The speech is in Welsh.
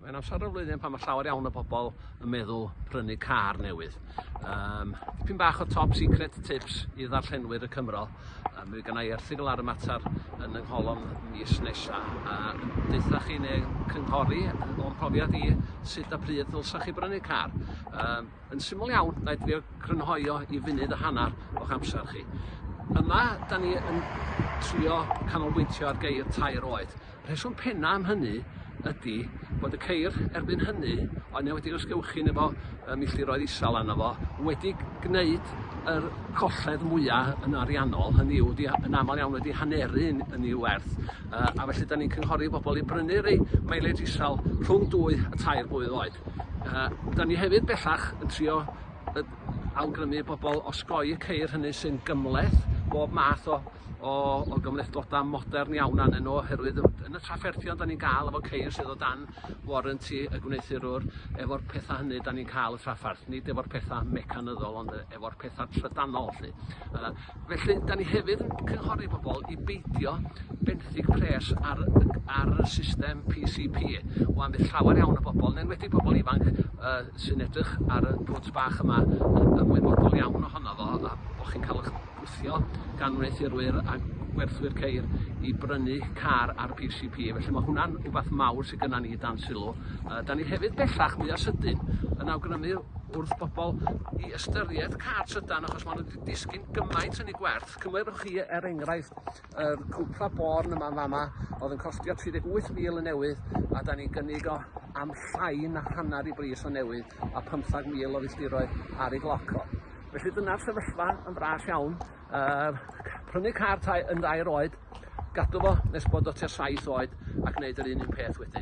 Mae'n amser o'r flwyddyn pan mae llawer iawn o bobl yn meddwl prynu car newydd. Um, dipyn bach o top secret tips i ddarllenwyr y Cymro. Um, mae gennau erthigol ar y mater yn yng ngholofn mis nesaf. Uh, Deutha chi neu cynghori o'n profiad i sut a pryd ddylsa chi brynu car. Um, yn syml iawn, na i drio crynhoi o i funud a hanner o'ch amser chi. Yma, da ni yn trio canolbwyntio ar geir tair oed. Rheswm penna am hynny ydi bod y ceir erbyn hynny, oedd 'ne wedi ysgewchin efo y milltiroedd isal arno fo, wedi gneud yr colled mwya yn ariannol, hynny yw wedi yn amal iawn wedi haneru yn yn i'w werth yy a felly 'dan ni'n cynghori bobol i brynu rei mileage isal rhwng dwy a tair blwydd oed. Yy 'dan ni hefyd bellach yn trio yy awgrymu i bobol osgoi y ceir hynny sy'n gymhleth bob math o o o gymhlethdodau modern iawn arnyn nhw oherwydd yn yn y trafferthion 'dan ni'n ga'l efo ceir sydd o dan warranty y gwneuthurwr efo'r petha hynny 'dan ni'n ca'l y trafferth nid efo'r petha mecanyddol ond yy efo'r petha trydanol lly. Yy felly 'dan ni hefyd yn cynghori bobol i beidio benthyg pres ar y g- ar y system PCP. Wan bydd llawer iawn o bobol yn enwedig pobol ifanc yy sy'n edrych ar y pwt bach yma yn ymwybodol iawn ohono fo a bo' chi'n ca'l 'ych gwthio gan wneuthurwyr a gwerthwyr ceir i brynu car ar PCP. Felly mae hwnna'n rhywbeth mawr sydd gyda ni dan sylw. Uh, da ni hefyd bellach mwy o sydyn yn awgrymu wrth bobl i ystyried car trydan achos maen nhw wedi disgyn gymaint yn ei gwerth. Cymwyrwch chi er enghraifft yr cwpla born yma'n fama oedd yn costio 38,000 y newydd a da ni'n gynnig o am llai na hanner i bris o newydd a 15,000 o filltiroedd ar ei gloc o. Felly dyna'r sefyllfa yn fras iawn. Uh, prynu car tai yn ddair oed, gadw fo nes bod o tua 7 oed ac wneud yr un un peth wedyn.